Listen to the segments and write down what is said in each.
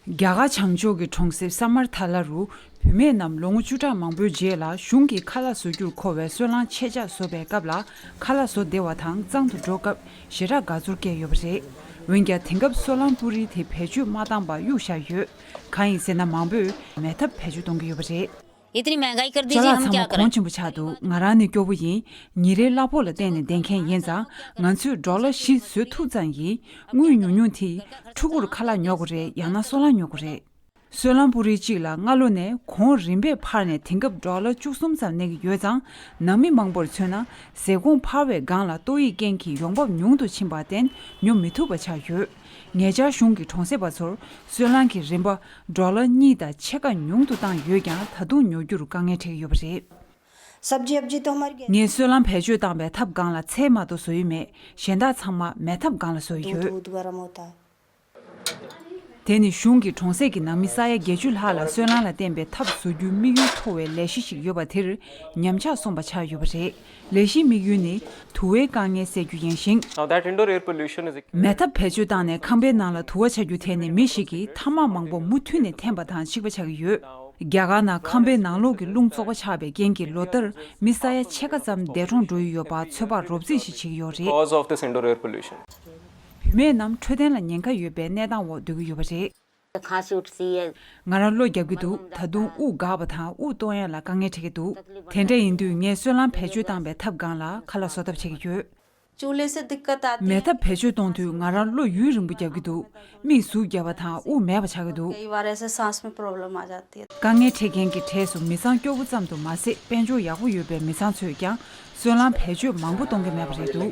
རྒྱ་གར་བྱང་ཕྱོགས་ཀྱི་གྲོང་གསེབ་ས་མར་དྷ་ལ་རུ་བུད་མེད་རྣམས་ལོ་ངོ་བཅུ་ཕྲག་མང་པོའི་རྗེས་ལ་གཞུང་གིས་ཁ་ལག་བཟོ་རྒྱུར་མཁོ་བའི་སོལ་རླངས་ཆེད་ལྕགས་བཟོ་བའི་སྐབས་ལ་ཁ་ལག་བཟོ་བདེ་བ་དང་གཙང་དུ་འགྲོ་སྐབས་ཞེ་དྲག་དགའ་ཚོར་སྐྱེས་ཡོད་པ་རེད། འོན་ཀྱང་དེང་སྐབས་སོལ་རླངས་སྤུ་རིས་དེ་བེད་སྤྱོད་མ་བཏང་པར་གཡུག་བཞག་ཡོད། གང་ཡིན་ཟེར་ན་མང་པོས་མེད་ཐབས་བེད་སྤྱོད་གཏོང་གི་ཡོད་པ་རེད། ལག་ཚང་མ་གོང་ཆེན་པོ་ཆགས་འདུག་ང་རང་ནི་སྐྱོ་བོ་ཡིན། ཉིན་རེའི་གླ་ཕོགས་ལ་བརྟེན་ནས་བསྡད་མཁན་ཡིན་ཙང་ང་ཚོས་འབྲོག་གླ་བཞི་བཟོས་ཐུབ་ཙང་ཡིན། དངུལ་ཉུང་ཉུང་དེས་ཕྲུ་གུར་ཁ་ལག་ཉོ་དགོས་རེད་ཡང་ན་སོལ་རླངས་ཉོ་དགོས་རེད། སོལ་རླངས་སྤུ་རིལ་གཅིག་ལ་སྔ་ལོ་ནས་གོང་རིམ་པས་འཕར་ནས་དེང་སྐབས་འབྲོག་གླ་བཅུ་གསུམ་ཙམ་གནས་ཀྱི་ཡོད་ཙང་ནང་མི་མང་པོར་མཚོན་ན་ཟས་གོང་འཕར་བའི་སྒང་ལ་ཏོག་དབྱིབས་རྐྱེན་གྱིས་ཡོང་འབབ་ཉུང་དུ་ཕྱིན་པར་བརྟེན་ཉོ་མི་ཐུབ་པ་ཆགས་ཡོད། ངེད་ཅག་གཞུང་གི་གྲོང་གསེབ་པ་ཚོར་སོལ་རླངས་ཀྱི་རིན་པ་འབྲོག་ལ་གཉིས་དང་ཕྱེད་ཀ་ཉུང་དུ་བཏང་ཡོད་ཀྱང་ད་དུང་ཉོ་རྒྱུར་དཀའ་ངལ་འཕྲད་ཀྱི་ཡོད་པ་རེད། ངས་སོལ་རླངས་བེད་སྤྱོད་བཏང་བའི་ཐབ་སྒང་ལ་ཚད་མ་དུ་བཟོ་ཡི་མེད་གཞན་དག་ཚང་མ་མལ་ཐབ་སྒང་ལ་བཟོ་ཡི་ཡོད། དེ་ནི་གཞུང་གི་གྲོང་གསེབ་ཀྱི་ནང་མི་ས་ཡ་བརྒྱད་ཅུ་ལྷག་ལ་སོལ་རླངས་ལ་བརྟེན་པའི་ཐབ་བཟོ་རྒྱུའི་དམིགས་ཡུལ་མཐོ་བའི་ལས་གཞི་ཞིག་ཡོད་པ་དེར་ཉམས་ཆག་སོང་པ་ཆགས་ཡོད་པ་རེད། ལས་གཞིའི་དམིགས་ཡུལ་ནི་དུ་བའི་དཀའ་ངལ་སེལ་རྒྱུ་ཡིན་ཞིང། མེ་ཐབ་བེད་སྤྱོད་བཏང་ནས་ཁང་པའི་ནང་ལ་དུ་བ་ཆ་རྒྱུ་དེ་ནི་མི་ཞིག་གིས་ཐ་མག་མང་པོ་མུ་མཐུད་ནས་འཐེན་པ་དང་གཅིག་པ་ཆགས་ཀྱི་ཡོད། རྒྱ་གར་ནང་ཁང་པའི་ནང་ལོགས་ཀྱི་རླུང་བཙོག་པ་ཆགས་པའི་རྐྱེན་གྱིས་ལོ་ལྟར་མི་ས་ཡ་ཕྱེད་ཀ་ཙམ་འདས་གྲོངས་འགྲོ་ཡི་ཡོད་པ་ཚོད་དཔག་རོབ་རྩིས་ཤིག་བྱེད་ཀྱི་ཡོད་རེད། བུད་མེད་རྣམས་འཕྲོད་བསྟེན་ལ་ཉེན་ཁ་ཡོད་པའི་གནས་སྟངས་འོག་སྡོད་ཀྱི་ཡོད་པ་རེད། གང་ཞིག་བྲིས་ཡོད། ང་རང་བློ་རྒྱག་གི་འདུག་ད་དུང་དབུགས་འགག་པ་དང་དབུགས་གཏོང་ཡ་ལ་དཀའ་ངལ་འཕྲད་ཀྱི་འདུག་དེ་འདྲ་ཡིན་དུས་ངས་སོལ་རླངས་བེད་སྤྱོད་བཏང་པའི་ཐབས་སྒང་ལ་ཁ་ལག་བཟོ་ཐབས་བྱེད་ཀྱི་ཡོད། མལ་ཐབས་བེད་སྤྱོད་གཏོང་དུས་ང་རང་བློ་ཡུན་རིང་པོ་རྒྱག་གི་འདུག་མིག་ཟུག་རྒྱ་བ་དང་དབུགས་མེད་པ་ཆགས་ཀྱི་འདུག། དཀའ་ངལ་འཕྲད་མཁན་གྱི་གྲས་སུ་མི་ཚང་སྐྱོ་བོ་ཙམ་དུ་མ་ཟད་དཔལ་འབྱོར་ཡག་པོ་ཡོད་པའི་མི་ཚང་ཚོས་ཀྱང་སོལ་རླངས་བེད་སྤྱོད་མང་པོ་གཏོང་གི་མེད་པ་རེད་འདུག།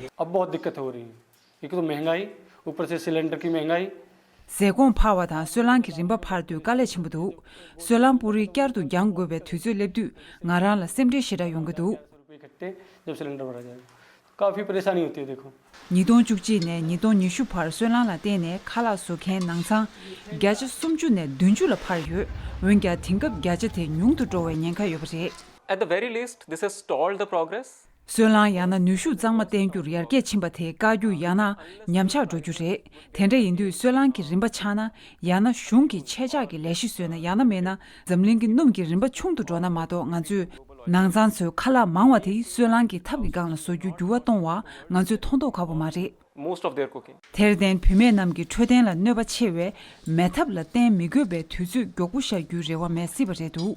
ཟས་གོང་འཕར་བ་དང་སོལ་རླངས་ཀྱི་རིམ་པ་འཕར་དུས་དཀའ་ལས་ཆེན་པོ་འདུག་སོལ་རླངས་སྤུ་རིས་བསྐྱར་དུ་འགྱངས་དགོས་པའི་དུས་ཚོད་སླེབས་དུས་ང་རང་ལ་སེམས་ཁྲལ་ཞེ་དྲག་ཡོང་གི་འདུག། ཉིས་སྟོང་བཅུ་གཅིག་ནས་ཉིས་སྟོང་ཉི་ཤུ་བར་སོལ་རླངས་ལ་བརྟེན་ནས་ཁ་ལག་བཟོ་མཁན་ནང་ཚང་བརྒྱ་ཆ་སུམ་ཅུ་ནས་བདུན་ཅུ་ལ་འཕར་ཡོད། འོན་ཀྱང་དེང་སྐབས་བརྒྱ་ཆ་དེ་ཉུང་དུ་འགྲོ་བའི་ཉེན་ཁ་ཡོད་པ་རེད། སོལ་རླངས་ཡང་ན་ནུས་ཤུགས་གཙང་མ་བསྟེན་རྒྱུར་ཡར་རྒྱས་ཕྱིན་པ་དེ་དཀའ་རྒྱུ་ཡང་ན་ཉམས་ཆག་འགྲོ་རྒྱུ་རེད། དེ་འདྲ་ཡིན་དུས་སོལ་རླངས་ཀྱི་རིམ་པ་ཆག་ན་ཡང་ན་གཞུང་གིས་ཆད་འཇགས་ཀྱི་ལས་གཞི་བཟོས་ན་ཡང་ན་མེད་ན་འཛམ་གླིང་གི་སྣུམ་གྱི་རིམ་པ་ཆུང་དུ་འགྲོ་ན་མ་གཏོགས་ང་ཚོས་ནང་ཚང་ཚོའི་ཁ་ལག་མང་བ་དེ་སོལ་རླངས་ཀྱི་ཐབ་ཀྱི་སྒང་ལ་བཟོ་རྒྱུའི་འགྱུར་བ་གཏོང་བ་ང་ཚོས་མཐོང་མདོག་ག་བོ་མ་རེད། དེར་བརྟེན་བུད་མེད་རྣམས་ཀྱི་འཕྲོད་བསྟེན་ལ་གནོད་པ་ཆེ་བས་མེ་ཐབ་ལ་བརྟེན་མི་དགོས་པའི་དུས་ཚོད་མགྱོགས་པོ་བཞག་རྒྱུའི་རེ་བ་མེད་སྲིད་པ་རེད་འདུག་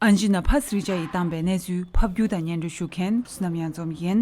ཨན་ཇི་ན་བྷ་སི་རི་ཇཱ་ཡིས་བཏང་པའི་གནས་ཚུལ་ཕབ་སྒྱུར་དང་སྙན་སྒྲོན་ཞུ་མཁན་སུ་ནམ་ཡང་འཛོམས་ཡིན།